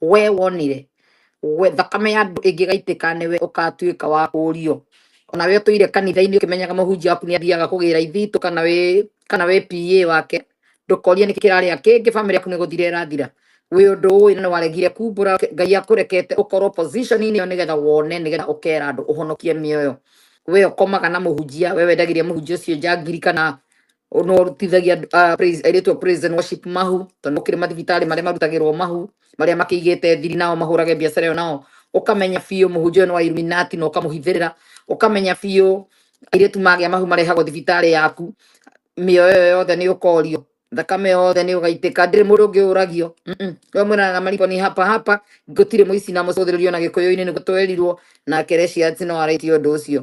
We wonire we thakame ya andũ ĩngĩgaitĩka nĩwe ũkatuĩka wa kũũrio ona we ũtũire kanitha-inĩ ũkĩmenyaga mũhunjia waku nĩ athiaga kũgĩra ithitũ kana wĩ kana wĩ PA wake ndũkorie nĩ kĩrarĩa kĩngĩ bamĩrĩ yaku nĩ gũthira ĩrathira wĩ ũndũ ũĩ na nĩ waregire kumbũra ngai akũrekete ũkorwo position-inĩ ĩyo nĩgetha wone nĩgetha ũkera andũ ũhonokie mĩoyo we ũkomaga na mũhunjia we wendagĩria mũhunjia ũcio njangiri kana O- no rutithagia andũ- ah, praise- airĩtu a praise and worship mahu tondũ kĩrĩ mathibitarĩ marĩa marutagĩrwo mahu marĩa makĩigĩte thiri nao mahũrage biacara ĩyo nao ũkamenya biũ mũhunjia ũyũ nĩ wa Illuminati na ũkamũhithĩrĩra ũkamenya biũ airĩtu magĩa mahu marehagwo thibitarĩ yaku mĩoyo ĩyo yothe nĩ ũkorio thakame yothe nĩ ũgaitĩka ndĩrĩ mũndũ ũngĩ ũragio Mm-mm. we mwĩranaga mariko nĩ hapa hapa gũtirĩ mũici na mũcũthĩrĩrio na gĩkũyũ-inĩ nĩguo twerirwo na kerecia tinoarĩtie ũndũ ũcio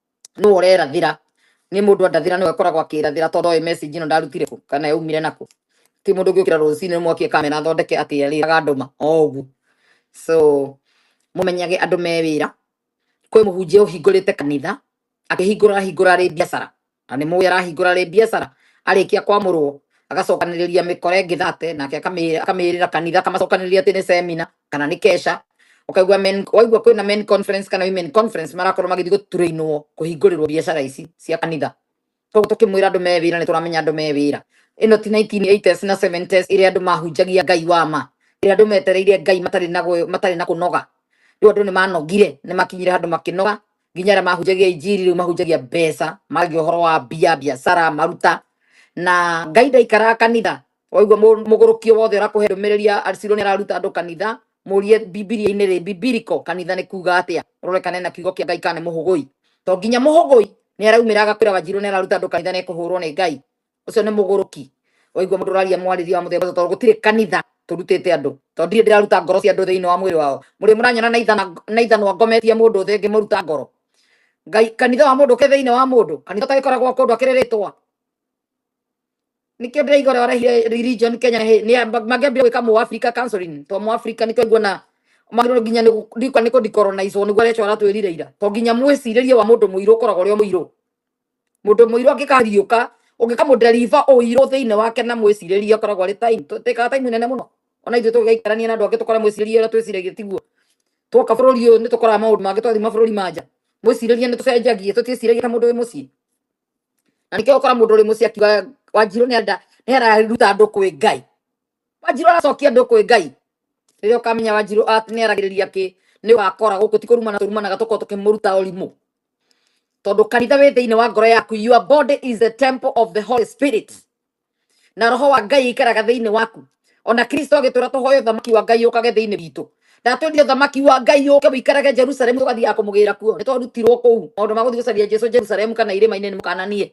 nũ ũrerathĩra nĩ mũndũ andathĩra nĩwe koragwo akĩrathĩra tondũ oĩ message ĩno ndarutire kũ kana yaumire nakũ ti mũndũ ũngĩũkĩra rũcinĩ nĩmwakie kamera athondeke atĩ arĩraga andũ ma o ũguo so mũmenyage andũ me wĩra kwĩ mũhunjia ũhingũrĩte kanitha akĩhingũra ahingũra arĩ biacara na nĩ mũĩ arahingũra arĩ biacara arĩkia kwamũrwo agacokanĩrĩria mĩkora ĩngĩ thate nake akamĩ- akamĩrĩra kanitha akamacokanĩrĩria atĩ nĩ semina kana nĩ kesha ũkaigua men waigua kwĩna men conference kana women conference marakorwo magĩthiĩ gũturĩinwo kũhingũrĩrwo biacara ici cia kanitha koguo tũkĩmwĩra andũ me wĩra nĩ tũramenya andũ me wĩra ĩno ti 1980s na 70s ĩrĩa andũ mahunjagia ngai wa ma ĩrĩa andũ metereire ngai matarĩ na gwe- matarĩ na kũnoga rĩu andũ nĩ manogire nĩ makinyire handũ makĩnoga nginya arĩa mahunjagia injiri rĩu mahunjagia mbeca magagia ũhoro wa mbia biacara maruta na ngai ndaikaraga kanitha Waigua mũ- mũgũrũkio wothe ũrakũhe ndũmĩrĩri ya Arciro nĩ araruta andũ kanitha, mũrie Bibilia-inĩ rĩ, biblical kanitha nĩ kuga atĩa, ũrore kana ena kiugo kĩa Ngai kana nĩ mũhũgũi. To nginya mũhũgũi nĩ araumĩra agakwĩra Wanjirũ nĩ araruta andũ kanitha nĩ kũhũrwo nĩ Ngai. Ũcio nĩ mũgũrũki. Waigua mũndũ ũraria mwarĩrie wa mũthemba ũcio, tondũ gũtirĩ kanitha tũrutĩte andũ tondũ ndirĩ ndĩraruta ngoro cia andũ thĩinĩ wa mwĩrĩ wao mũrĩ mũranyona na ithana na ithanwa ngometie mũndũ thĩ ngĩmũruta ngoro ngai kanitha wa mũndũ ũkĩrĩ thĩinĩ wa mũndũ kanitha ũtagĩkoragwo kũndũ akĩrĩ rĩtwa nikio ndiraigua uria warehire religion kenya he ni mangiambire gwika mu africa counseling to mu africa nikio nguona magirwo nginya ni ndikwa ni ku decolonize niguo arecho aratwirire ira to nginya mwiciririe wa mundu muiru ukoragwo uri muiru mundu muiru angikariuka ungikamu deliver uiru thiini wake na mwiciririe ukoragwo ari time tikaga time nene muno ona ithuĩ tũgĩikarania na andũ angĩ tũkora mwĩcirĩrie ũrĩa twĩciragia tiguo twoka bũrũri ũyũ nĩ tũkoraga maũndũ mangĩ twathiĩ mabũrũri manja mwĩcirĩrie nĩ tũcenjagia tũtiĩciragia ta mũndũ wĩ mũciĩ na nĩkĩo ũkora mũndũ ũrĩ mũciĩ akiuga wanjirũ nĩ enda nĩ araruta andũ kwĩ ngai wanjirũ aracokia andũ kwĩ ngai rĩrĩa ũkamenya wanjirũ at- nĩ aragĩrĩria kĩ nĩ wakora gũkũ ti kũrumana tũrumanaga tũkorwo tũkĩmũruta ũrimũ tondũ kanitha wĩ thĩinĩ wa ngoro yaku your body is the temple of the holy spirit na roho wa ngai aikaraga thĩinĩ waku ona kristo agĩtũra tũhoe ũthamaki wa ngai ũkage thĩinĩ witũ ndatwendire ũthamaki wa ngai ũke ũikarage jerusalemu tũgathiaga kũmũgĩra kuo nĩ twarutirwo kũu maũndũ ma gũthiĩ gũcaria jesu jerusalemu kana irĩma-inĩ nĩ mũkananie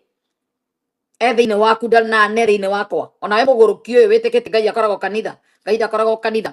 e thĩinĩ waku ndanane thĩinĩ wakwa onawe mũgũrũki ũyũ wĩtĩkĩtie ngai akoragwo kanitha ngai ndakoragwo kanitha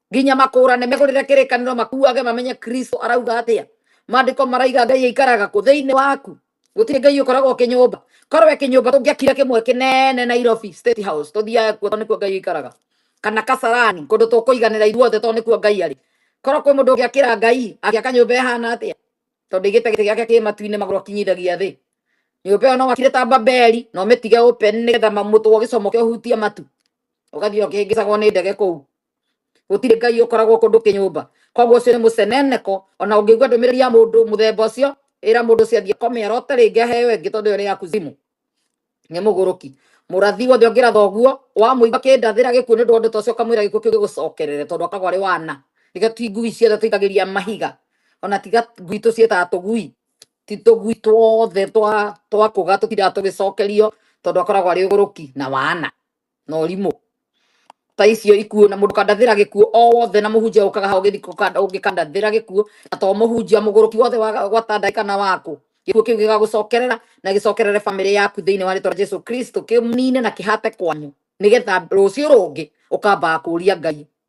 nginya makũrane megũrĩre kĩrĩkanĩro makuage mamenye kristo arauga atĩa maandĩko maraiga ngai aikaraga kũ thĩinĩ waku gũtirĩ ngai ũkoragwo kĩnyũmba korwe kĩnyũmba tũngĩakire kĩmwe kĩnene nairobi state house tũthiaga kuo tondũ nĩkuo ngai aikaraga kana kasarani kũndũ tũkũiganĩra ithuothe tondũ nĩkuo ngai arĩ korwo kwĩ mũndũ ũngĩakĩra ngai agĩaka nyũmba ĩhana atĩa tondũ ĩgĩte gĩtĩ gĩake kĩ matu-inĩ magũrũ akinyithagia thĩ nyũmba ĩyo no wakire ta babeli no mĩtige open nĩgetha mamũtwo gĩcomo kĩa ũhutia matu ũgathiĩ ũkĩhĩngĩcagwo nĩ ndege kũu gũtirĩ ngai ũkoragwo kũndũ kĩnyũmba koguo ũcio nĩ mũceneneko ona ũngĩigua ndũmĩrĩri ya mũndũ mũthemba ũcio ĩra mũndũ ũcio athiĩ kome arote rĩngĩ aheo ĩngĩ tondũ ĩyo nĩ ya kuzimu nĩ mũgũrũki mũrathi wothe ũngĩratha ũguo wamũigua kĩndathĩra gĩkuũ nĩ ũndũ wa ũndũ ta ũcio ũkamwĩra gĩkuũ kĩu gĩgũcokerere tondũ akoragwo arĩ wana tiga ti ngui ciothe tũikagĩria mahiga ona tiga ngui tũciĩtaga tũgui ti tũgui twothe twa twa kũga tũtindaga tũgĩcokerio tondũ akoragwo arĩ ũgũrũki na wana na ũrimũ ta icio ikuo na mũndũ kandathĩra gĩkuo o wothe na mũhunjia ũkaga hau gĩthiko ũngĩkandathĩra gĩkuo na to mũhunjia mũgũrũki wothe wa gwatanda kana waku gĩkuo kĩu gĩgagũcokerera na gĩcokerere bamĩrĩ yaku thĩinĩ wa rĩtwa rĩa Jesu Kristo kĩmnine na kĩhate kwanyu nĩgetha rũciũ rũngĩ ũkambaga kũria Ngai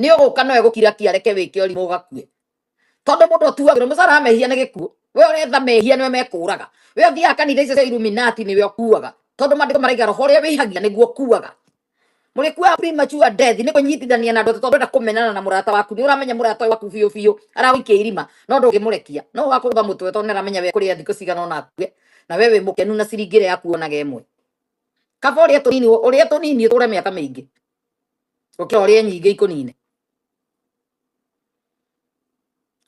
nĩ ũgũka nowe gũkira kia reke wĩke ũrimũ ũgakue tondũ mũndũ ũtuagĩrwo mũcara wa mehia nĩ gĩkuũ we ũretha mehia nĩwe mekũraga we ũthiaga kanitha icio cia illuminati nĩwe ũkuaga tondũ maandĩko maraiga roho ũrĩa wĩhagia nĩguo ũkuaga mũrĩkuaga premature death nĩ kũnyitithania na andũ tondũ ndũrenda kũmenana na mũrata waku nĩ ũramenya mũrata ũyũ waku biũ biũ aragũikia irima no ndũngĩmũrekia no ũgakũrũga mũtwe tondũ nĩ aramenya we kũrĩa thikũ cigana ona akue na we wĩ mũkenu na ciringi ĩrĩa yakuonaga ĩmwe kaba ũrĩa tũnini ũrĩa tũnini ũtũre mĩaka mĩingĩ oke orie nyingä ikånine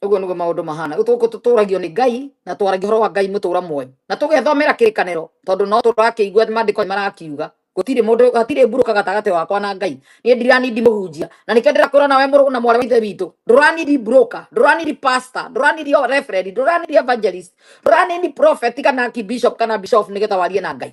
å guo nä guo maå ndå mahana rä u tå tå ragio nä ngai na twaragia å horo wa ngai må tå ra mwe na tå gethomera kä rä kanero tondå no tå rakä igua mandä ko marakiuga gũtirĩ mũndũ hatirĩ mburũka gatagatĩ wakwa na ngai niĩ ndiranindi mũhunjia na nĩkĩo ndĩrakwĩra nawe mũrũ na mwarĩ wa ithe witũ ndũranindi mburũka ndũranindi pastor ndũranindi o reverend ndũranindi evangelist ndũranindi prophet kana ki bishop kana bishop nĩgetha warie na ngai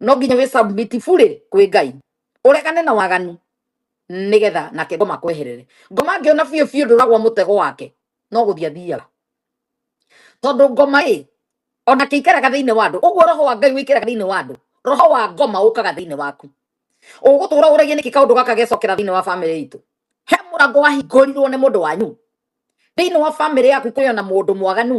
no nginya wĩ submit burĩ kwĩ ngai ũregane na waganu nigetha nake ngoma kweherere ngoma angĩona biũ biũ ndũragwa mũtego wake no gũthiĩ athiaga tondũ ngoma ĩ ona kĩikaraga thĩinĩ wa andũ ũguo roho wa ngai wĩikaraga thĩinĩ wa andũ roho wa ngoma ũkaga thĩinĩ waku ũgũtũra ũragia nĩkĩ kaũndũ gaka gecokera thĩinĩ wa bamĩrĩ itũ he mũrango wahingũrirwo nĩ mũndũ wanyu thĩinĩ wa bamĩrĩ yaku kwĩ ona mũndũ mwaganu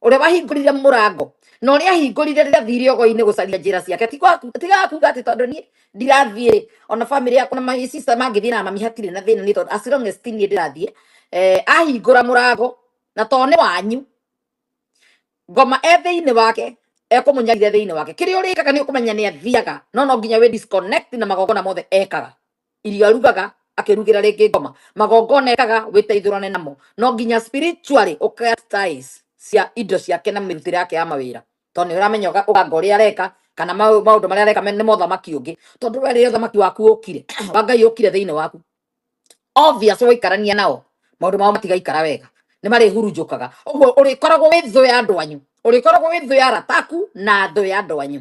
ũrĩa wahingũrire mũrango na ũrĩa ahingũrire rĩrĩa thire ogoinĩ gũcaria njĩra ciake ti gwa- ti ga kuga atĩ tondũ niĩ ndirathiĩ ona bamĩrĩ yakwa na my sister mangĩthiĩ na mami hatirĩ na thĩna nĩ tondũ as long as ti niĩ ndĩrathiĩ eh, ahingũra mũrango na to nĩ wanyu ngoma e thĩinĩ wake ekũmũnyarire thĩinĩ wake kĩrĩa ũrĩkaga nĩ ũkũmenya nĩ athiaga no no nginya wĩ disconnect na magongona mothe ekaga irio arugaga akĩrugĩra rĩngĩ ngoma magongona ekaga wĩteithũrane namo no nginya spiritually ũkatize cia indo ciake na mĩrutĩre yake ya mawĩra tondũ nĩ ũramenya ũga- ũganga ũrĩa areka kana mau- maũndũ marĩa areka me- nĩ mothamaki ũngĩ tondũ we rĩrĩa ũthamaki waku ũkire wa ngai ũkire thĩinĩ waku obvious waikarania nao maũndũ mao matigaikara wega nĩ marĩhurunjũkaga ũguo ũrĩkoragwo wĩ thũ ya andũ anyu ũrĩkoragwo wĩ thũ ya arata aku na thũ ya andũ anyu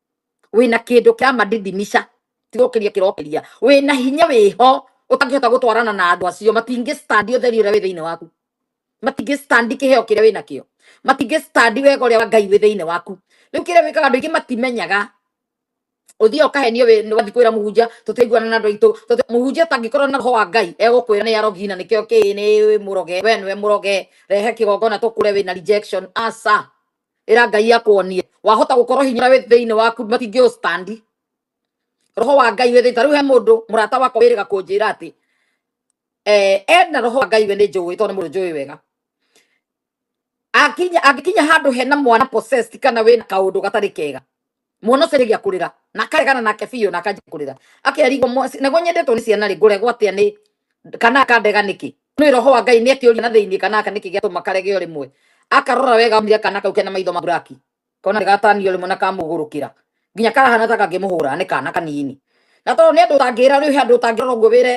wina kindu kia madidimisha tirokiria kirokiria wina hinya wiho utangihota gutwarana na andu acio matingi stand utheri uria wi thiini waku matingi stand kiheo kiria wina kio matingi stand wega uria wa ngai wi thiini waku riu kiria wikaga andu aingi matimenyaga uthiaga ukahenio wi ni wathi kwira muhunjia tutiguana na andu aitu muhunjia tangikorwo na roho wa ngai egukwira ni arogi na nikio ki ni muroge we niwe muroge rehe kigongona tukure wina rejection aca ira ngai akuonie wahota gukorwo hinya wi thiini waku matingi u standi roho wa ngai wi thiini tariu he mundu murata wakwa wiriga kunjira ati eh ena roho wa ngai we ni njui tondu ni mundu njui wega akinya angikinya handu hena mwana possessed kana wina kaundu gatari kega mwana ũcio arĩgia kũrĩra na akaregana nake biũ na akanjia kũrĩra akerigwo nĩguo nyendetwo nĩ ciana rĩ ngũregwo atĩa nĩ kana akandega nĩkĩ nĩ roho wa ngai nĩ akĩũria na thĩinĩ kana aka nĩkĩ gĩatũma karegeo rĩmwe akarora wega onire kana kau kena maitho ma buraki kona nĩ gatanio rĩmwe na kamũgũrũkĩra nginya karahana ta kangĩmũhũra nĩ kana kanini na tondũ nĩ andũ ũtangĩra rĩu he andũ ũtangĩrora ũguo wĩre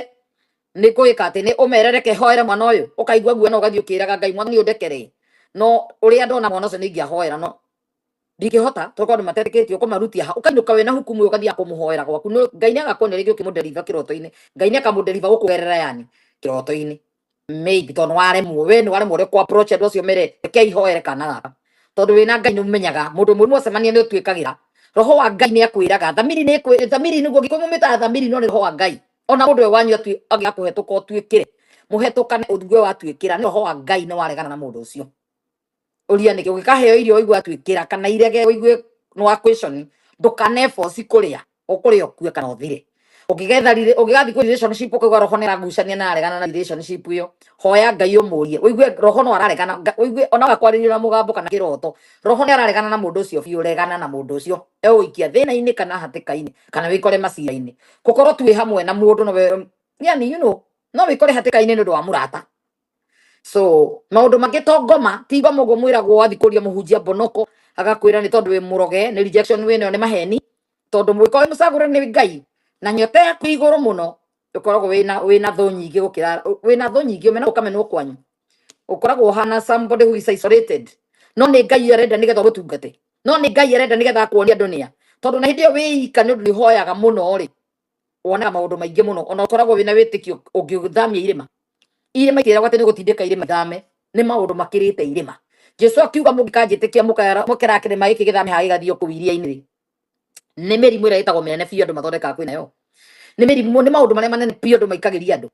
nĩ ngũĩka atĩ nĩ ũmerereke hoere mwana ũyũ ũkaigua guo na ũgathiĩ ũkĩraga ngai mwana nĩ ũndekere no ũrĩa ndona mwana ũcio nĩ ingĩahoera no ndingĩhota tondũ andũ matetĩkĩtie ũkũmarutia ha ũkainũka wĩna hukumu ũyũ ũgathiaga kũmũhoera gwaku Nũ- ngai nĩ agakuonia rĩngĩ ũkĩmũnderiva kĩroto-inĩ ngai nĩ akamũnderiva gũkũgerera yani kĩroto-inĩ maybe tondũ waremwo we nĩ waremwo ũrĩa kwa approach andũ acio mere reke ihoere kana gaka tondũ wĩna ngai nĩ ũmenyaga mũndũ mũrimũ ũcemania nĩ ũtuĩkagĩra roho wa ngai nĩ akwĩraga thamiri nĩ ĩkwĩ- thamiri nĩguo gĩkũyũ mũmĩtaga thamiri no nĩ roho wa ngai ona mũndũ we wanyu atui- agĩa kũhetũka ũtuĩkĩre mũhetũkane ũthugue watuĩkĩra nĩ roho wa ngai nĩ waregana na mũndũ ũcio uria niki ugikaheo irio uigua tu ikira kana irege uigue no akwishoni ndukane force kuria ukuria ukue kana uthire ukigetha rire ukigathi ku relationship ukigwa roho ni ragucania na aregana na relationship iyo hoya ngai umurie uigue roho no araregana Nga- uigue ona wakwariria na mugambo kana kiroto roho ni araregana na mundu ucio biu regana na mundu ucio euikia thina-ini kana hatika-ini kana wikore macira-ini gukorwo tu wi hamwe na mundu no we yani you know no wikore hatika-ini ni undu wa murata so maundu mangĩ to ngoma ti ngoma ũguo mwĩragwo wathi kũria mũhunjia mbonoko agakwĩra nĩ tondũ wĩ mũroge nĩ rejection wĩ nayo nĩ maheni tondũ mũngĩkorwo wĩ mũcagũre nĩ ngai na nyota yaku ĩ igũrũ mũno ũkoragwo wĩna wĩna thũ nyingĩ gũkĩra wĩna thũ nyingĩ ũmena ũkamenwo kwanyu ukoragwo hana somebody who is isolated no nä ngai arenda nä getha gå tungate no nä ngai arenda nä getha akuonia andå nä a tondå na hä ndä ä yo wä ika nä å ndå nä hoyaga må no rä wonaga maũndũ maingĩ mũno ona ũkoragwo wĩna wĩtĩkio ũngĩthamia irĩma irĩma itiragwo atĩ nĩ gũtindĩka irĩma ithame nĩ maũndũ makĩrĩte irĩma jesu akiuga mũngĩkanjĩtĩkia mũkara- mũkera kĩrĩma gĩkĩ gĩthame haha gĩgathiĩ kũu iria-inĩ rĩ nĩ mĩrimũ ĩrĩa ĩtagwo mĩnene biũ andũ mathondekaga kwĩ nayo nĩ mĩrimũ nĩ maũndũ marĩa manene biũ andũ maikagĩria andũ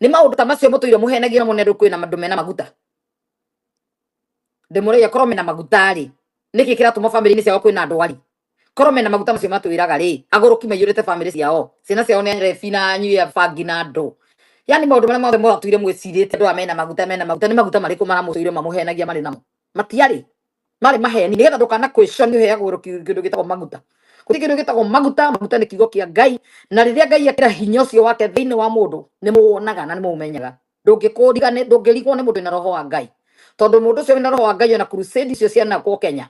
nĩ maũndũ ta macio mũtũire mũhenagia na mũnene kwĩna andũ mena maguta ndĩmũrĩia korwo mena maguta rĩ nĩkĩ kĩratũma bamĩrĩ-inĩ ciao kwĩna ndwari korwo mena maguta macio matwĩraga rĩ agũrũki maiyũrĩte bamĩrĩ ciao ciana ciao nĩ rebi na nyui ya bangi na ndũ yani maũndũ marĩa mothe mwatũire mwĩcirĩte andũ aya mena maguta mena maguta nĩ maguta marĩkũ maramũtũire mamũhenagia marĩ namo matiarĩ marĩ maheni nĩgetha ndũkana kwĩconi ũheagwo rũki- kĩndũ gĩtagwo maguta kũrĩ kĩndũ gĩtagwo maguta maguta nĩ kiugo kĩa ngai na rĩrĩa ngai akĩra hinya ũcio wake thĩinĩ wa mũndũ nĩ mũwonaga na nĩ mũũmenyaga ndũngĩkũrigane ndũngĩrigwo nĩ mũndũ wĩna roho wa ngai tondũ mũndũ ũcio wĩna roho wa ngai ona crusade icio cianakwo kenya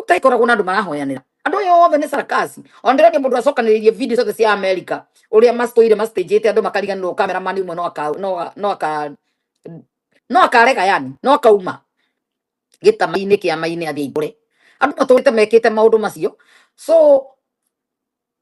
ũtaikora kuna andũ marahoyanĩra andũ aya othe nĩ sarakaci ondirani mũndũ acokanĩrĩirie video ciothe cia america ũrĩa macitũire macitĩnjĩte andũ makariganĩrwo kameramani ũmwe no aka- no- no aka- no akarega yani no akauma gĩtamainĩ kĩamainĩ athiĩ aihũre andũ matũrĩte mekĩte maũndũ macio so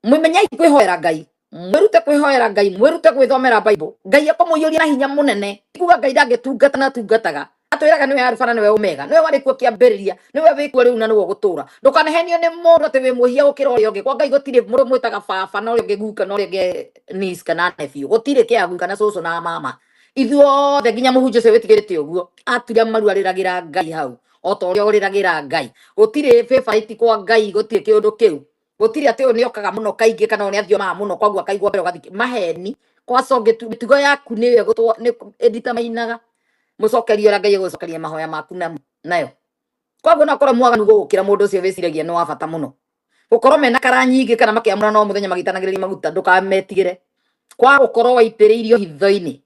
mwimenyai kwihoera ngai mwirute kwihoera ngai mwirute gwithomera bible ngai akomuiyuria na hinya munene tikuga ngai ndangitungata na tungataga atwiraga niwe alfa na niwe omega niwe wari kuo kiambiriria niwe wi kuo riu na niwe ugutura ndukanahenio ni mundu ati wi muhia gukira uria ungi kwa ngai gutiri mundu mwitaga baba na uria ungi guka na uria ungi nis kana nephew gutiri kiagu kana cucu na mama ithuothe nginya muhunjia ucio witigirite uguo aturia maru ariragira ngai hau o ta uria uriragira ngai gutiri favorite kwa ngai gutiri kiundu kiu gutiri ati uyu niokaga muno kaingi kana uyu niathiomaga muno koguo akaigua mbere ugathiki maheni kwaco mitugo yaku ni yo gutwa ni edita mainaga mucokerie uria ngai gucokeria mahoya maku na nayo koguo no korwo mwaganu gukira mundu ucio wiciragia ni wa bata muno gukorwo mena kara nyingi kana makiamura no muthenya magitanagiriria maguta ndukametigire kwa gukorwo waitiriirio hitho-ini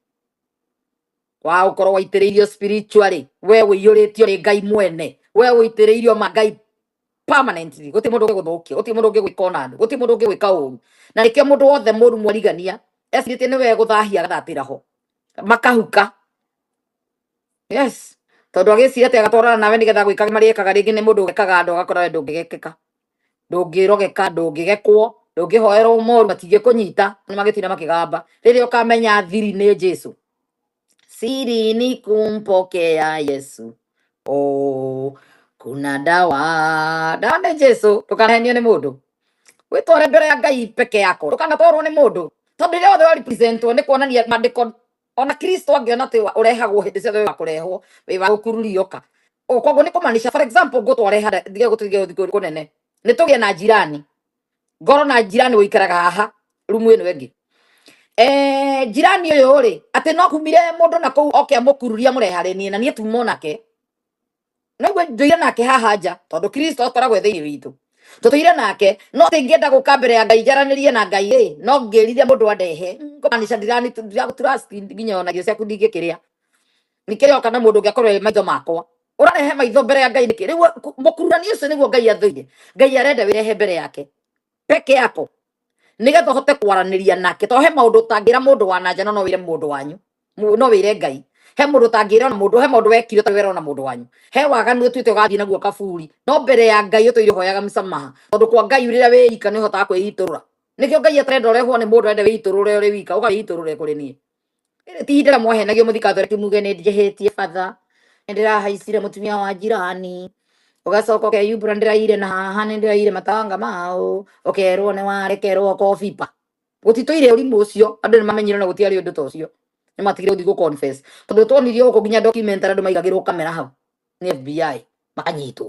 wa gukorwo waitiriirio spiritually we uiyuritio ni ngai mwene we uitiriirio ma ngai permanently guti mundu ngiguthukia guti mundu ngigwika ona ndu guti mundu ngigwika uru na nikio mundu wothe muru mwarigania esirite ni we guthahia gathatira ho makahuka yes tondu agicira ati agatwarana nawe nigetha gwika maria ekaga ringi ni mundu ugekaga andu agakora we ndungigekeka ndungirogeka ndungigekwo ndungihoerwo moru matingikunyita ni magitina makigamba riria ukamenya thiri ni jesu sirini kumpokea Yesu. Oh, kuna dawa dawa nĩ Jesu ndũkanahenio nĩ mũndũ wĩtware mbere ya Ngai peke yako ndũkanatwarwo nĩ mũndũ tondũ rĩrĩa othe warepresentwo nĩ kuonania maandĩko ona Kristo angĩona atĩ wa- ũrehagwo hĩndĩ ciothe wĩ wa kũrehwo wĩ wa gũkururia ũka O, koguo nĩ kũmaanisha for example ngũtware handa ndige gũtũige ũthiũ kũnene nĩ tũgĩe na njirani ngoro na njirani wikaraga haha rumu ino ingi eh njirani uyu ri ati no kumire mundu na kuu oke amukururia murehare nie na nie tumo nake no gwe nduire nake haha nja tondu kristo akoragwo thiini witũ tũtũire nake no ati ngĩenda gũka mbere ya ngai njaranirie na ngai ĩ no ngĩrire mũndũ andehe ngomaanisha ndirani ndiragũtura speed nginya ona irio ciaku ndingĩkĩrĩa nikeyo kana mundu ngiakorwo e maitho makwa urarehe maitho mbere ya ngai niki riu mukururani ucio niguo ngai athuire ngai arenda wirehe mbere yake peke yako nigetha uhote kwaraniria nake to he maundu utangira mundu wa nanja no no wire mundu wanyu Mu- no wire ngai he mundu utangira ona mundu he maundu wekire to wira ona mundu wanyu he waganu utuite ugathii naguo kaburi no mbere ya ngai utuire hoyaga msamaha tondu kwa ngai rira wiika ni uhotaga kwiiturura nikio ngai atarenda urehwo ni mundu arenda wiiturure uri wika uga wiiturure kuri nie Rĩrĩ ti ihinda rĩa mwahenagio mũthikathore kimuge nĩ njĩhĩtie batha nĩ ndĩrahaicire mũtumia wa njirani ũgacoka ũkeyumbũra nĩ ndĩraire na haha nĩ ndĩraire matanga maũ ũkerwo nĩ warekerwo kobiba gũtitũire ũrimũ ũcio andũ nĩ mamenyire na gũtiarĩ ũndũ ta ũcio nĩ matigire gũthiĩ gũ confess tondũ twonirio gũkũ nginya documentary andũ maigagĩrwo kamera hau nĩ FBI makanyitwo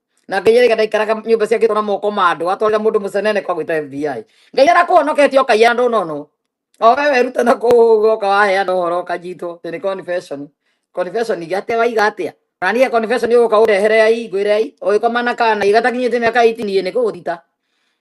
na ngai arega ndaikaraga nyumba ciake tona moko ma andu atwarira mundu mucenene kwa gwita FBI ngai arakuhonoketie o kaiya ndu nono o we weruta na kuguo ka waheana uhoro ukanyitwo ti ni confession confession iga atia waiga atia na niä confession uguka urehere ai ngwire ai ugikoma na kana igatakinyite miaka 18 ni kuguthita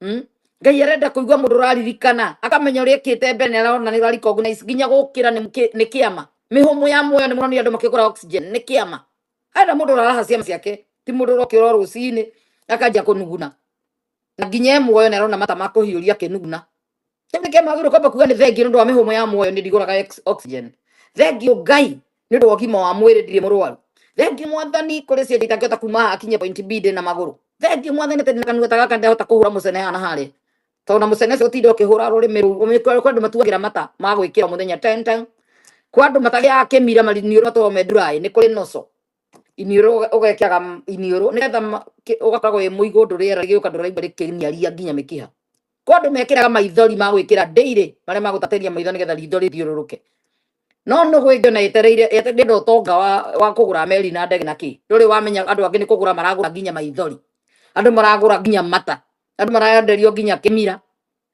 Mm? ngai arenda kuigua mundu uraririkana akamenya uria ikite mbere ni arona ni recognize nginya gukira ni ki- ni kiama mihumu ya muoyo ni muronire andu makigura oxygen ni kiama arenda mundu uraraha ciama ciake ti mundu urokira o rucini akanjia kunuguna na nginya e muoyo ni arona mata makuhiuria akinuguna Kĩu nĩkĩo magĩrĩirwo kwamba kuga nĩ thengiũ nĩ ũndũ wa mĩhũmũ ya muoyo nĩ ndigũraga ex- oxygen. Thengiũ Ngai nĩ ũndũ wa ũgima wa mwĩrĩ ndirĩ mũrwaru. Thengiũ mwathani kũrĩ cienje itangĩhota kuma haha akinye point B ndĩ na magũrũ. Thengiũ mwathani atĩ ndĩ na kanua ta gaka ndĩrahota kũhũra mũcene haha na harĩa. Tondũ na mũcene ũcio ũtinda ũkĩhũra rũrĩmĩ rũu ũmĩ- kwĩ kwĩ andũ matuagĩra mata ma gwĩkĩra o mũthenya ten ten. Kwa andũ matagĩaga kĩmira maniũrũ matũrwo me nduraĩ nĩ kũrĩ noco. iniũrũ ũga- ũgekiaga m- iniũrũ nĩgetha ma- kĩ- ũgakoragwo wĩ mũigũ ũndũ rĩera rĩgĩũka ndũraigua rĩkĩniaria nginya mĩkiha kwa andũ mekĩraga maithori ma gwĩkĩra ndĩirĩ marĩa magũtatĩria maitho nĩgetha ritho rĩthiũrũrũke no nũgũ ĩngĩona yetereire yete- ndĩenda ũtonga wa, wa kũgũra meri na ndege na kĩ ndũrĩ wamenya andũ angĩ nĩ kũgũra maragũra nginya maithori andũ maragũra nginya mata andũ maraenderio nginya kĩmira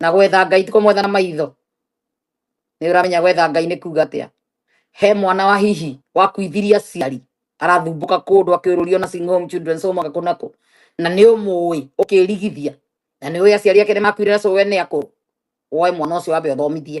na gwetha ngai ti kũmwetha na maitho nĩ ũramenya gwetha ngai nĩ kuga atĩa he mwana wa hihi wakuithirie aciari arathumbũka kũndũ akĩũrũrio na Sing Home Children's Home agakũ nakũ na nĩ ũmũĩ ũkĩrigithia na nĩ ũĩ aciari ake nĩ makuire na cũwe nĩ akũrũ woe mwana ũcio wambe ũthomithie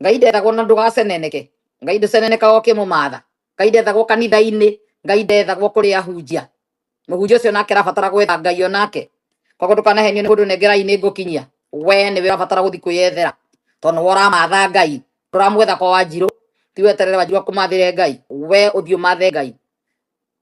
ngai ndethaga ona ndũgaceneneke ngai ndũcenenekaga ũkĩmũmatha ngai ndethagwo kanitha-inĩ ngai ndethagwo kũrĩ ahunjia mũhunjia ũcio nake arabatara gwetha ngai onake koguo ndũkanahenio nĩ mũndũ nengerai nĩ ngũkinyia we nĩwe ũrabatara gũthiĩ kwĩyethera tondũ nĩwe ũramatha ngai ndũramwetha kwa wanjirũ ti weterere wanjirũ akũmathĩre ngai we ũthiĩ ũmathe ngai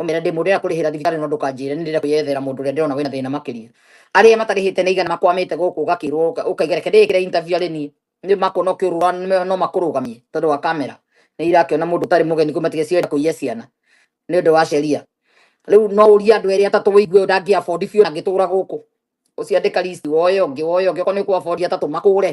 Ũmere ndĩ mũndũ ũrĩa kũrĩhĩra thibitarĩ no ndũkanjĩre nĩ ndĩrenda kwĩyethera mũndũ ũrĩa ndĩrona wĩna thĩna makĩria. Arĩa matarĩhĩte nĩ igana makwamĩte gũkũ ũgakĩrwo ũkaiga reke ndĩĩkĩre interview arĩ niĩ. Nĩ makuona ũkĩũrũra no makũrũgamie tondũ wa kamera. Nĩ irakĩona mũndũ ũtarĩ mũgeni kuma tiga cirenda kũiya ciana nĩ ũndũ wa sheria. Rĩu no ũrie andũ erĩ atatũ wĩigue ũyũ ndangĩ afford biũ na angĩtũũra gũkũ. Ũcio andĩka list woe ũngĩ woe ũngĩ okorwo nĩ ũkũ afford atatũ makũre.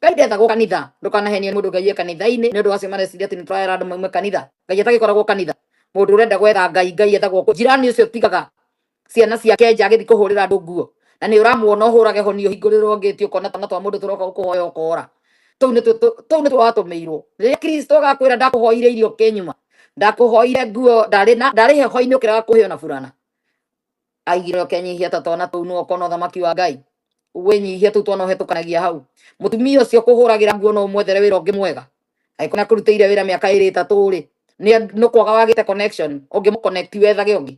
Ngai ndethagwo kanitha ndũkanahenie mũndũ Ngai e kanitha-inĩ nĩ ũndũ wacio mareciria atĩ nĩ tũrahera andũ maume kanitha Ngai atagĩkoragwo kanitha mũndũ ũrenda gwetha Ngai Ngai ethagwo kũ jirani ũcio tigaga ciana ciake nja agĩthiĩ kũhũrĩra andũ nguo na nĩ ũramuona ũhũrage honi ũhingũrĩrwo ngĩti ũkona twana twa mũndũ tũroka gũkũhoya ũkora tũu nĩ tũu nĩ twatũmĩirwo rĩrĩa Kristo agakwĩra ndakũhoire irio kĩnyuma ndakũhoire nguo ndarĩ na ndarĩ heho-inĩ ũkĩrega kũheo na burana aigire ũkenyihia ta twana tũu nĩwe ũkona ũthamaki wa ngai wĩnyihia tũu twana ũhetũkanagia hau mũtumia ũcio kũhũragĩra nguo no ũmwethere wĩra ũngĩ mwega angĩkorwo nĩakũrutĩire wĩra mĩaka ĩrĩ ĩtatũ rĩ nĩ- nĩ kwaga wagĩte connection ũngĩmũconnect wethage ũngĩ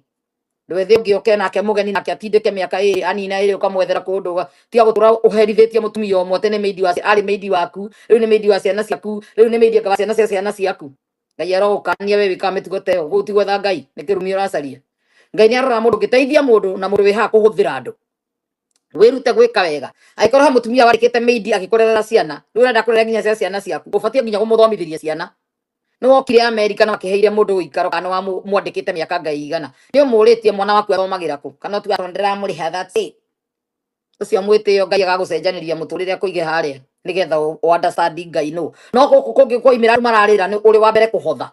ndwethe ũngĩ oke nake mũgeni nake atindĩke mĩaka ĩrĩ anina ĩrĩ ũkamwethera kũndũ ũga- tiga gũtũra ũherithĩtie mũtumia ũmwe tene maidi wa arĩ maidi waku rĩu nĩ maidi wa ciana ciaku rĩu nĩ maidi wa ciana cia ciana ciaku ngai arogũkania we wĩkaga mĩtugo ta ĩyo ũguo ũtigwetha ngai nĩ kĩrumi ũracaria ngai nĩ aroraga mũndũ ũngĩteithia mũndũ na mũndũ wĩ haha kũhũthĩra andũ wĩrute gwĩka wega angĩkorwo he mũtumia warĩkĩte mĩindi agĩkũrerera ciana rĩu ũrenda kũrera nginya cia ciana ciaku ũbatiĩ nginya kũmũthomithĩria ciana nĩ wokire amerika na wakĩheire mũndũ ũikaro kana wamwandĩkĩte mĩaka ngai igana nĩ ũmũrĩtie mwana waku athomagĩra kũ kana ũtuga tondũ ndĩramũrĩha that's it ucio mwitio ngai agagucenjaniria muturire kuige haria nigetha u u understand ngai no no guku kungi kwaimira andu mararira ni uri wa mbere kuhotha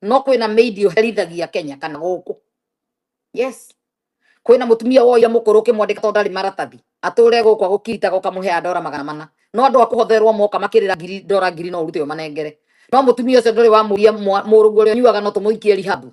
no kwina meidi uherithagia kenya kana guku yes kwina mutumia woya mukuru kimwandika to ndari maratathi ature guku agukiritaga ukamuhea ndora magana mana no andu akuhotherwo moka makirira ngiri ndora ngiri no urute umanengere no mutumia ucio nduri wamuria murugu uria unyuaga no tumuikie rihabu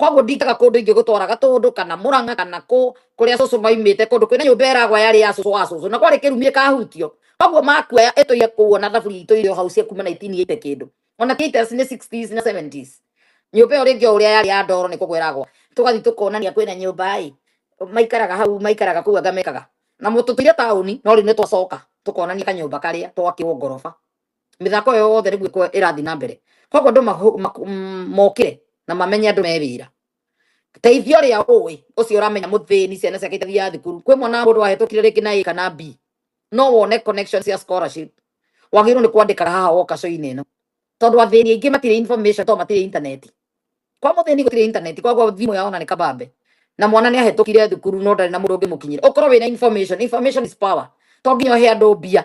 koguo ndingaga kũndũ ingĩ gũtwara gatũndũ kana mũranga kana kũ kũrĩa cũcũ maimĩte kũndũ kwĩna nyũmba ĩragwa yarĩ ya cũcũ wa cũcũ na kwarĩ kĩrumi ĩkahutio koguo makuoya ĩtũire kũguo na thaburi itũ irĩ o hau cia kuma 1980 kĩndũ ona ti 80s nĩ 60s na 70s nyũmba ĩyo rĩngĩ o ũrĩa yarĩ ya ndoro nĩ kũgwa ĩragwa tũgathiĩ tũkonania kwĩna nyũmba ĩ maikaraga hau maikaraga kũu anga mekaga na mũtũtũire taũni no rĩu nĩ twacoka tũkonania kanyũmba karĩa twakĩrwo ngoroba mĩthako ĩyo yothe nĩguo ĩkorwo ĩrathiĩ na mbere koguo andũ mahu- maku- mm, mokĩre na mamenye andũ me wĩra teithio rĩa ũĩ ũcio ũramenya mũthĩni ciana ciake itathiaga thukuru kwĩ mwana mũndũ wahĩtũkire rĩngĩ na A kana B no wone connection cia scholarship wagĩrĩirwo nĩ kwandĩkaga haha woka coinĩ ĩno tondũ athĩni aingĩ matirĩ information tondũ matirĩ intaneti kwa mũthĩni gũtirĩ intaneti koguo thimũ yao na nĩ kabambe na mwana nĩ ahĩtũkire thukuru no ndarĩ na mũndũ ũngĩmũkinyĩra ũkorwo wĩna information information is power to nginya ũhe andũ mbia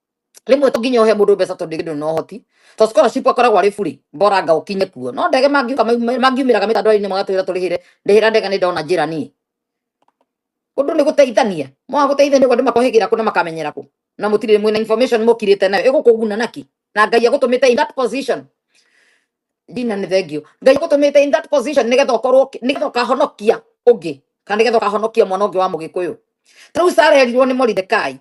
rĩmwe to nginya ũhe mũndũ mbeca tondũ ndĩgĩdũ no hoti to scholarship akoragwo arĩ buri mboranga ũkinye kuo no ndege mangiuka mangiumĩraga mĩtandao-inĩ magatwĩra tũrĩhĩre ndĩhĩra ndege nĩ ndona njĩra niĩ ũndũ nĩ gũteithania mwa gũteithania ũguo andũ makohĩgĩra kũ na makamenyera kũ na mũtirĩ mwĩna information mũkirĩte nayo ĩgũkũguna naki na ngai agũtũmĩte in that position ndina nĩ thengio ngai agũtũmĩte in that position nĩgetha ũkorwo ũki- nĩgetha ũkahonokia ũngĩ kana nĩgetha ũkahonokia mwana ũngĩ wa mũgĩkũyũ tarĩu Sara erirwo nĩ Moridekai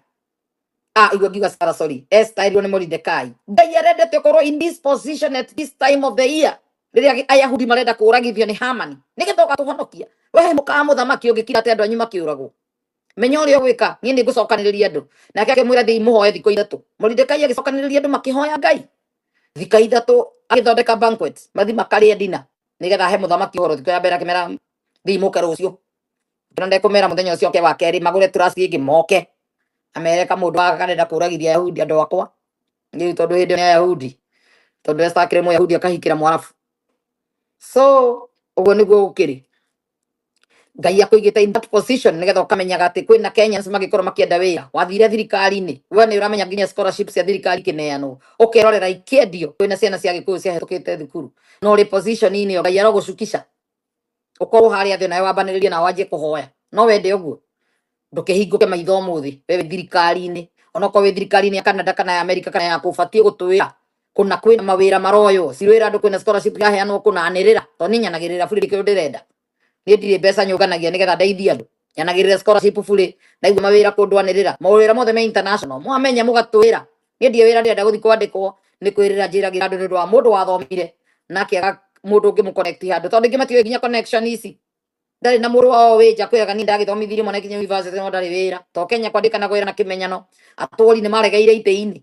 Ah, igua ngiuga Sarah, sorry. Esther erirwo nĩ Moridekai. Ngai arendete ũkorwo in this position at this time of the year. Rĩrĩa agĩ- Ayahudi marenda kũũragithio nĩ Hamani. Nĩgetha ũgatũhonokia. Wee mũkaa mũthamaki ũngĩkira atĩ andũ anyu makĩũragwo. Menya ũrĩa ũgwĩka, niĩ nĩ ngũcokanĩrĩria andũ. Nake akĩmwĩra thiĩi mũhoe thikũ ithatũ. Moridekai agĩcokanĩrĩria andũ makĩhoya Ngai. Thika ithatũ agĩthondeka banquet. Mathi makarĩe dina. Nĩgetha ahe mũthamaki ũhoro thikũ ya mbere akĩmera thiĩi mũke rũciũ. Ngĩra ndekũmera mũthenya ũcio ũke wa kerĩ magũre tũraci ĩngĩ moke amere ka mũndũ akarenda kũragithia Ayahudi andũ akwa rĩu tondũ hĩndĩ ya Ayahudi tondũ esakire Mũyahudi akahikĩra Mwarabu so ũguo nĩguo gũkĩrĩ Ngai akũigĩte in that position nĩgetha ũkamenyaga atĩ kwĩna Kenyans mangĩkorwo makĩenda wĩra wathire thirikari-inĩ we nĩ ũramenya nginya scholarship cia thirikari ikĩneanwo ũkerorera ikĩendio kwĩna ciana cia gĩkũyũ ciahĩtũkĩte thukuru no rĩ position-inĩ ĩyo Ngai arogũcukisha ukorwo hari athi nayo wambaniririe na wanjie kuhoya no wende uguo ndukihinguke maitho muthi we thirikari-ini onokorwo wi thirikari-ini ya Canada kana ya America kana ya kubatie gutuwira kuna kwina mawira maroyo cirwira andu kwina scholarship yaheanwo kuna anirira to ni nyanagirira buri ri kindu ndirenda ni ndiri mbeca nyunganagia nigetha ndeithie andu nyanagirire scholarship bure ndaigua mawira kundwanirira mawira mothe me international mwamenya mugatwira ni ndie wira ndirenda guthi kwandikwo ni kwirira njiragira andu ndu wa mundu wathomire nake aga mundu ungi mu connect handu tondu ingi matiwe nginya connection ici ndari na muru wao wija kwiraga ni ndagithomithirie mwana kinya university no ndari wira to kenya kwandika na kwira na kimenyano aturi ni maregeire ite-ini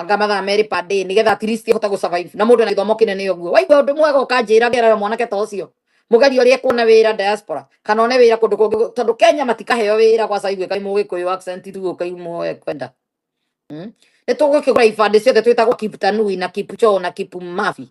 anga mathaa merĩ per day nigetha at least hote gũsurvive na mũndũ ena gĩthomo kĩnene ũguo waigua ũndũ mwega ũkanjĩra ngerera mwanake ta ũcio mũgeria ũrĩa kuona wĩra diaspora kana one wĩra kũndũ kũngĩ gũ- tondũ Kenya matikaheo wĩra gwa caigwe kai mũgĩkũyũ accent ithuĩ kai muoe kwenda Mm. nĩ tũgũkĩgũra ibandĩ ciothe twĩtagwo Kiptanui na Kipchoo na Kipmafi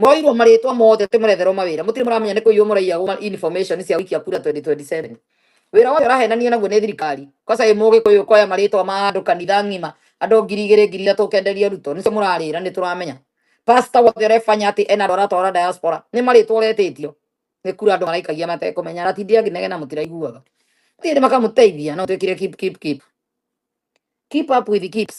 Mwairwo marĩtwa mothe tũmũretherwo mawĩra mũtirĩ mũramenya nĩ kũiywo mũraiyagwo information cia wiki ya kura 2027 wĩra ũyũ ũrahenanio naguo nĩ thirikari kosa ĩ mũgĩkũyũ koya marĩtwa ma andũ kanitha ng'ima andũ ngiri igĩrĩ ngiri ithatũ ũkenderia ruto nĩcio mũrarĩra nĩ tũramenya pastor wothe ũrebanya atĩ ena andũ aratwara diaspora nĩ marĩtwa ũretĩtio nĩ kura andũ maraikagia matekũmenya aratindĩ akĩnegena mũtiraiguaga thiĩ nĩ makamũteithia no twĩkire keep keep keep keep up with the keeps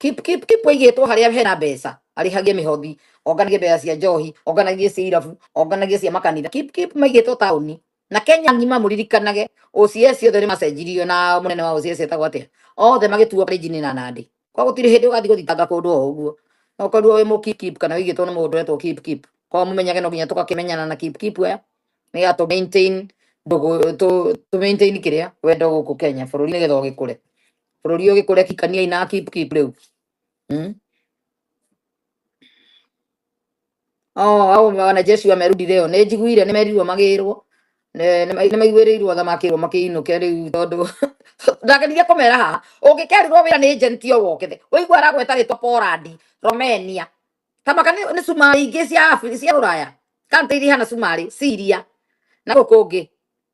Kip- Kip- Kip aigĩtwo harĩa hena mbeca arĩhagie mĩhothi onganagie mbeca cia njohi onganagie cia irabu onganagie cia makanitha Kip- Kip maigĩtwo taũni na kenya ng'ima mũririkanage OCS ciothe nĩ macenjirio na mũnene wa OCS etagwo atĩa othe magĩtuo karĩnjinĩ na nandĩ kwa gũtirĩ hĩndĩ ũgathiĩ gũthitanga kũndũ o ũguo no korwo wĩ mũkipkip kana wĩigĩtwo nĩ mũndũ etwo kipkip kwa mũmenyage no nginya tũgakĩmenyana na kipkip aya nĩgetha tũ maintain ndũgũ- tũ- tũ maintain kĩrĩa wendo gũkũ kenya bũrũri nĩgetha ũgĩkũre bũrũri ũyũ gĩkũre kikania ina keep keep rĩu hmm? oh, au wanajeshi wamerudi leo nĩ njiguire nĩ merirwo magĩrwo nĩ maiguĩrĩirwo tha makĩrwo makĩinũke rĩu tondũ ndageririe kũmera haha ũngĩkerirwo wĩra nĩ ejenti o wokĩthe ũigua aragweta rĩtwa Poland Romania kamaka nĩ cumarĩ ingĩ cia cia rũraya kantĩ iria ihana cumarĩ Syria na gũkũ ngĩ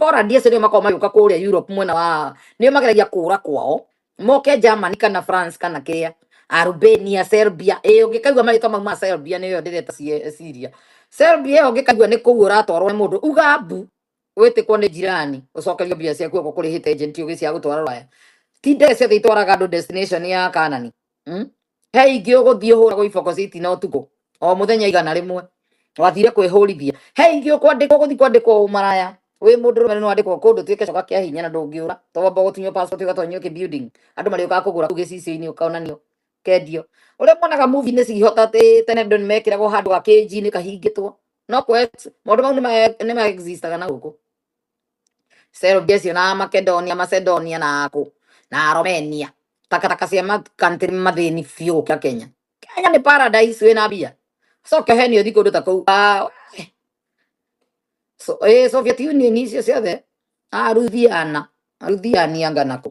Poland acio nĩo makoragwo magĩũka kũrĩa Europe mwena wa nĩo mageragia kũra kwao moke Germany kana France kana kĩrĩa Albania Serbia ĩĩ ũngĩkaigua marĩtwa mau ma Serbia nĩyo ndĩreta sie- Syria Serbia ĩyo ũngĩkaigua nĩ kũu ũratwarwo nĩ mũndũ uga mbu wĩtĩkwo nĩ njirani ũcokerio mbia ciaku oko kũrĩ hit agent ũgĩ cia gũtwara rũraya ti ndege ciothe itwaraga andũ destination ya kanani Mm? he ingĩ ũgũthiĩ hũragwo iboko citina ũtukũ o mũthenya igana rĩmwe wathire kwĩhũrithia he ingĩ ũkwandĩkwo gũthiĩ kwandĩkwo ũmaraya wĩ mũndũ rũme nĩ wandĩkwo kũndũ tuĩke coka kĩa hinya na ndũngĩũra towamba gũtunywo passport ũgatonyio kĩ building andũ marĩũkaga kũgũra kũu gĩcicio-inĩ ũkonanio kendio ũrĩa muonaga movie-inĩ cihota atĩ tene andũ nĩ mekĩragwo handũ ga kĩnji-inĩ kahingĩtwo no kwe maũndũ mau nĩ ma- nĩ ma existaga na gũkũ Serbia acio na Makedonia, Macedonia na kũ na Romania takataka cia makantiri mathĩni biũ gũkĩra Kenya. Kenya nĩ paradise wĩna mbia coke heni ũthi kũndũ ta kũu Ah, we. so, eh, Soviet Union icio ciothe aruthiana aruthiania ngana kũ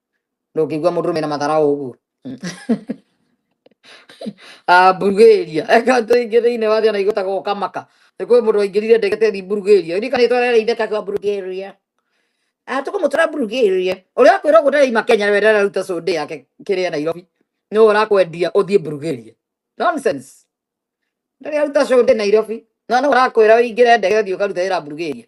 ndũngĩigua mũndũ mena matharaũ ũguo Ah, Bulgaria eka andũ aingĩ thĩinĩ wa thĩ ona igũtaga ũkamaka nĩ kwĩ mũndũ waingĩrire ndege tethi Bulgaria irikanĩtwo arereire kakwa Bulgaria Ah, tũkũmũtwara Bulgaria ũrĩa akwĩra ũguo ndaraima Kenya we ndararuta cũndĩ yake kĩrĩa Nairobi nĩwe ũrakwendia ũthiĩ Bulgaria nonsense ndarĩ aruta cũndĩ Nairobi na nĩwe ũrakwĩra ũingĩre ndege ũthiĩ ũkaruta wĩra Bulgaria